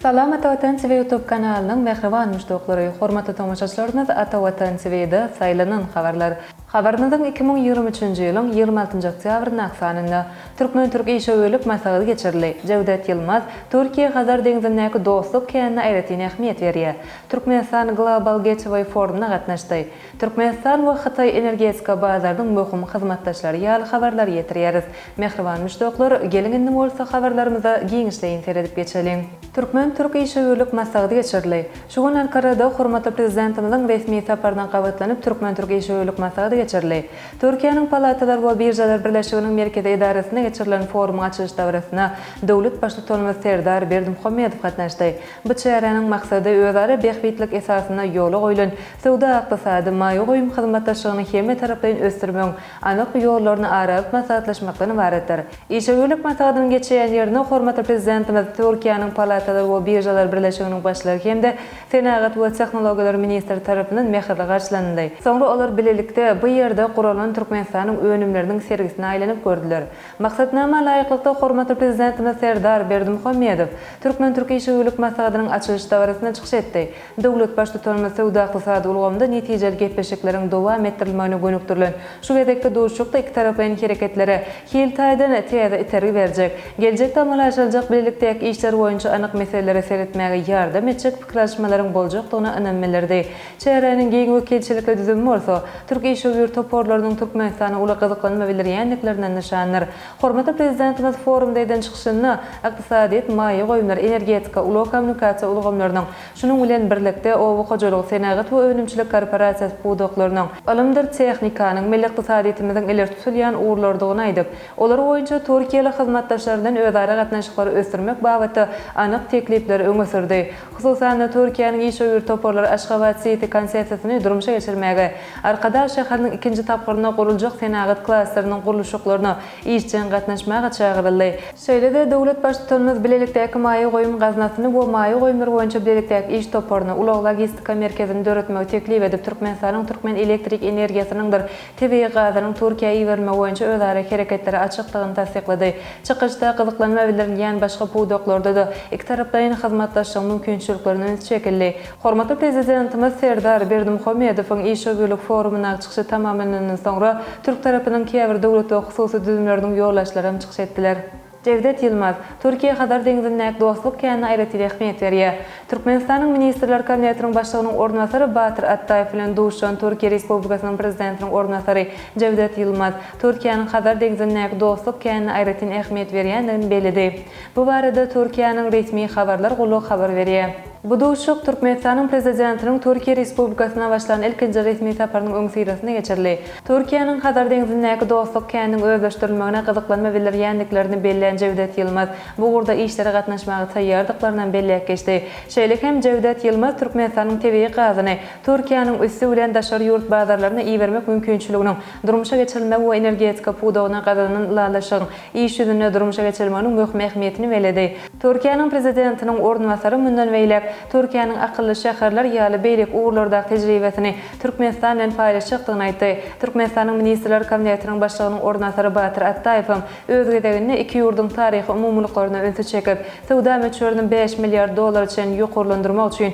Salam Ata Watan TV YouTube kanalynyň mähriban muşdaklary, hormatly tomaşaçylarymyz Ata Watan TV'de Saýlanan habarlar habarynyň iki müň ýigrimi üçünji ýylyň ýigrimi altynjy oktýabrynda ak sanynda türkmen-türk işewürlik maslahaty geçirildi. Jewdet Ýylmaz, Türkiýe Hazar deňzindäki dostluk känine aýratyn ähmiýet berýär. Türkmenistan Global Gateway forumyna gatnaşdy. Türkmenistan we Hytaý energetika bazarynyň möhüm hyzmatdaşlary ýaly habarlary ýetirýäris. Mähriban muşdaklar, geliň indi bolsa habarlarymyza giňişleýin seredip geçeliň. Türkmen-türk işewürlik maslahaty geçirildi. Şu gün Ankarada hormatly Prezidentimiziň resmi saparyna gabatlanyp Türkmen-türk işewürlik maslahaty geçirildi. Türkiýäniň Palatalar we biržalar birleşiginiň merkezi edarasynda geçirilen forumyň açylyş dabarasyna döwlet Baştutanymyz Serdar Berdimuhamedow gatnaşdy. Bu çäräniň maksady özara bähbitlik esasynda ýola goýlan Söwda-ykdysady, maýa goýum hyzmatdaşlygyny hemmetaraplaýyn ösdürmegiň anyk ýollaryny ara alyp maslahatlaşmakdan ybaratdyr. Işe gürlük maslahatynyň geçýän ýerine hormatly Prezidentimiz Türkiýäniň Palatalar we biržalar birleşiginiň başlygy hem-de Senagat we tehnologiýalar ministri tarapyndan mähirli garşylanyldy. Soňra olar bilelikde bu ýerde guralan Türkmenistanyň önümleriniň sergisine aýlanyp gördüler. Maksatnama laýyklykda, hormatly Prezidentimiz Serdar Berdimuhamedow türkmen-türk işewürlik maslahatynyň açylyş dabarasynda çykyş etdi. Döwlet Baştutanymyz söwda-ykdysady ulgamda netijeli gepleşikleriň dowam etdirilmegine gönükdirilen şu gezekki duşuşykda ikitaraplaýyn hereketlere hil taýdan täze itergi berjek, geljekde amala aşyryljak bilelikdäki işler boýunça anyk meselelere seretmäge ýardam etjek pikir alyşmalaryň boljakdygyna ynam bildirdi. Çäräniň giň wekilçilikli düzümi bolsa, türk işewür toparlarynyň Türkmenistana uly gyzyklanma bildirýändikleriniň nyşanydyr. Hormatly Prezidentimiz forumda eden çykyşynda ykdysadyýet, maýa goýumlar, energetika, ulag-kommunikasiýa ulgamlarynyň, şunuň bilen birlikde, oba hojalygy, senagat we önümçilik korporasiýasy pudaklarynyň, ylymdyr tehnikanyň milli ykdysadyýetimiziň ileri tutulýan ugurlarydygyny aýdyp, olar boýunça türkiýeli hyzmatdaşlar bilen özara gatnaşyklary ösdürmek babatda anyk teklipleri öňe sürdi. Hususan-da, Türkiýäniň işewür toparlary Aşgabat Siti konsepsiýasyny durmuşa geçirmäge, Arkadag şäheriniň ikinji tapgyrynda guruljak senagat klasteriniň gurluşyklaryna işjeň gatnaşmaga çagyryldy. Şeýle-de, döwlet Baştutanymyz bilelikdäki maýa goýum gaznasyny we maýa goýumlar boýunça bilelikdäki iş toparyny, ulag-logistika merkezini döretmegi teklip edip, Türkmenistanyň türkmen elektrik energiýasynyňdyr tebigy gazynyň Türkiýä iberilmegi boýunça özara hereketlere açykdygyny tassyklady. Çykyşda gyzyklanma bildirilýän başga pudaklarda-da ikitaraplaýyn hyzmatdaşlygyň mümkinçiliklerine üns çekildi. Hormatly Prezidentimiz Serdar Berdimuhamedowyň işewürlik forumyna çykyşy tamamlanandan soňra, türk tarapynyň käbir döwlet we hususy düzümleriniň ýolbaşçylary hem çykyş etdiler. Jewdet Ýylmaz, Türkiýä Hazar deňzindäki dostluk känine aýratyn ähmiýet berýär. Türkmenistanyň Ministrler Kabinetiniň Başlygynyň orunbasary Batyr Atdaýew bilen duşuşan Türkiýe Respublikasynyň Prezidentiniň orunbasary Jewdet Ýylmaz Türkiýäniň Hazar deňzindäki dostluk känine aýratyn ähmiýet berýändigini belledi. Bu barada Türkiýäniň resmi habarlar gullugy habar berýär. Bu duşuşyk Türkmenistanyň Prezidentiniň Türkiýe Respublikasyna başlan ilkinji resmi saparynyň öňüsyrasynda geçirildi. Türkiýäniň Hazar deňzindäki dostluk käniniň özleşdirilmegine gyzyklanma bildirýändiklerini bellän Jewdet Ýylmaz, bu ugurda işlere gatnaşmaga taýýardyklaryny hem belläp geçdi. Şeýle hem Jewdet Ýylmaz Türkmenistanyň tebigy gazyny Türkiýäniň üsti bilen daşary ýurt bazarlaryna ibermek mümkinçiliginiň Durmuşa geçirilmegi we energetika pudagyna gazanan ylalaşygyň iş ýüzünde durmuşa geçirilmeginiň möhüm ähmiýetini belledi. Türkiýäniň Prezidentiniň orunbasary mundan beýläk Türkiýäniň akylly şäherler ýaly beýleki ugurlardaky tejribesini Türkmenistan bilen paýlaşjakdygyny aýtdy. Türkmenistanyň Ministrler Kabinetiniň Başlygynyň orunbasary Batyr Atdaýew hem öz gezeginde iki ýurduň taryhy umumylyklaryna ünsi çekip, söwda möçberini bäş milliard dollara çenli ýokarlandyrmak üçin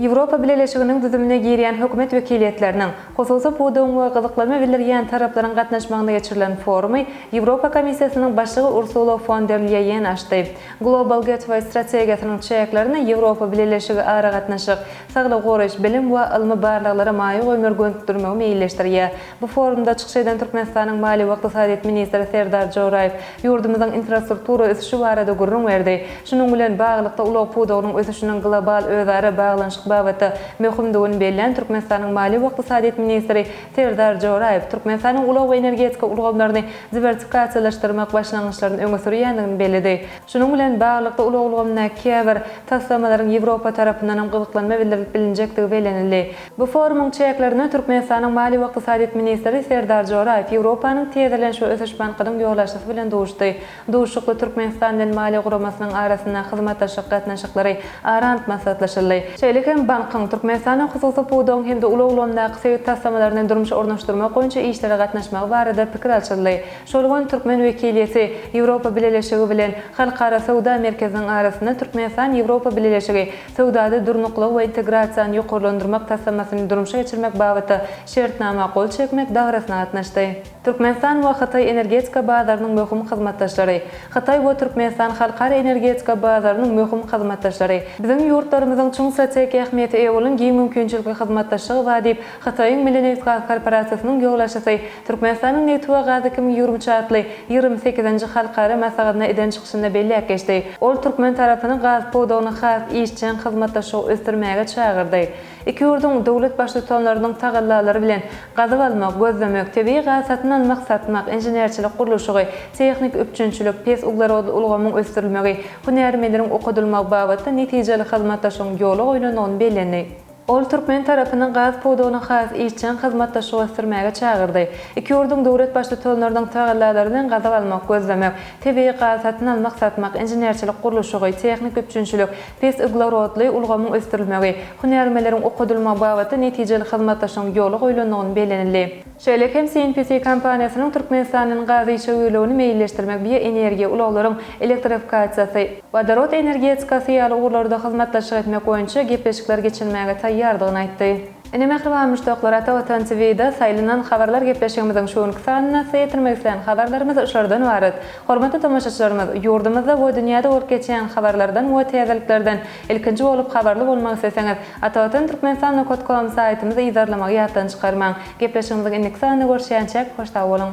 Ýewropa Bileleşiginiň düzümine girýän hökümet wekiliýetleriniň, hususy pudagyň we gyzyklanma bildirýän taraplaryň gatnaşmagynda geçirilen forumy Ýewropa Komissiýasynyň başlygy Ursula fon der Lýeýen açdy. Global Gateway strategiýasynyň çäklerinde Ýewropa Bileleşigi aragatnaşyk, saglygy goraýyş, bilim we ylmy barlaglara maýa goýumlary gönükdirmegi meýilleşdirýär. Bu forumda çykyş eden Türkmenistanyň Maliýe we ykdysadyýet ministri Serdar Joraýew ýurdumyzyň infrastruktura ösüşi barada gürrüň berdi. Şunuň bilen baglylykda, ulag pudagynyň ösüşiniň global özara baglanyşyk babatda möhümdigini bellän Türkmenistanyň Maliýe we ykdysadyýet ministri Serdar Joraýew Türkmenistanyň ulag we energetika ulgamlaryny diwersikasiýalaşdyrmak başlangyçlaryny öňe sürýändigini belledi. Şunuň bilen baglylykda, ulag ulgamyndaky käbir taslamalaryň Ýewropa tarapyndanam gyzyklanma bildirilip bilinjekdigi bellenildi. Bu forumyň çäklerinde Türkmenistanyň Maliýe we ykdysadyýet ministri Serdar Joraýew Ýewropanyň Täzelenişik ösüş bankynyň ýolbaşçysy bilen duşdy. Duşuşykda Türkmenistan bilen maliýe guramasynyň arasyndaky hyzmatdaşlyk gatnaşyklary ara alyp maslahatlaşyldy. Şeýle hem bankyň Türkmenistanda hususy pudagyň hem-de ulag ulgamyndaky sebit taslamalaryny durmuşa ornaşdyrmak boýunça işlere gatnaşmagy barada pikir alşyldy. Şol gün türkmen wekiliýeti Ýewropa Bileleşigi bilen Halkara söwda merkeziniň arasynda Türkmenistan-Ýewropa Bileleşigi Söwdada durnuklygy we integrasiýany ýokarlandyrmak taslamasyny durmuşa geçirmek babatda Şertnama gol çekmek dabarasyna gatnaşdy. Türkmenistan we Hytaý energetika bazarynyň möhüm hyzmatdaşlary. Hytaý we Türkmenistan halkara energetika bazarynyň möhüm hyzmatdaşlary. Biziň ýurtlarymyzyň çuň strategik ähmiýete eýe bolan giň mümkinçilikli hyzmatdaşlygy bar diýip, Hytaýyň Milli nebitgaz korporasiýasynyň ýolbaşçysy Türkmenistanyň nebti we gazy kimin ýüwrümçi atly ýigrimi sekizinji halkara maslahatyna eden çykyşynda belläp geçdi. Ol türkmen tarapyny gaz pudagyny has işjeň hyzmatdaşlygy ösdürmäge çagyrdy. Iki ýurduň döwlet Baştutanlarynyň tagallalary bilen gazyp almak, gözlemek, tebigy gaz satyn almak, satmak, inženerçilik gurluşygy, tehniki üpjünçilik, pes uglerodly ulgamyň ösdürilmegi, hünärmenleriň okadylmagy babatda netijeli hyzmatdaşlygyň ýola goýlandygyny bellendi. Ol türkmen tarapyny gaz pudagyny has işjeň hyzmatdaşlyk ösdürmäge çagyrdy. Iki ýurduň döwlet Baştutanlarynyň tagallalary bilen gazyk almak, gözlemek, tebigy gaz satyn almak-satmak, inženerçilik gurluşygy, tehniki üpjünçilik, pes uglerodly ulgamyň ösdürilmegi, hünärmenleriň okadylmagy babatda netijeli hyzmatdaşlygyň ýola goýlandygyny bellenildi. Şeýle hem CNPC kompaniýasynyň Türkmenistandan gazy işe öýlügini meýilleşdirmek, bioenergiýa, ulaglaryň elektrifikasiýasy, wodorod energetikasy ýaly ugurlarda hyzmatdaşlyk etmek boýunça gepleşikler geçirmäge taýýardygyny aýtdy. Ine mähriban muşdaklar Ata Watan TVda saýlanan habarlar gepleşigimiziň şu günki sanyna size ýetirmek isleýän habarlarymyz şulardan ybarat. Hormatly tomaşaçylarymyz, ýurdumyzda we dünýäde bolup geçýän habarlardan we täzeliklerden Ilkinji bolup habarly bolmak isleseňiz, Atavatan Türkmenistan nokat kom saýtymyzy yzarlamagy ýatdan çykarmaň. Gepleşigimiziň indiki sanynda görüşýänçäk, hoş sag boluň!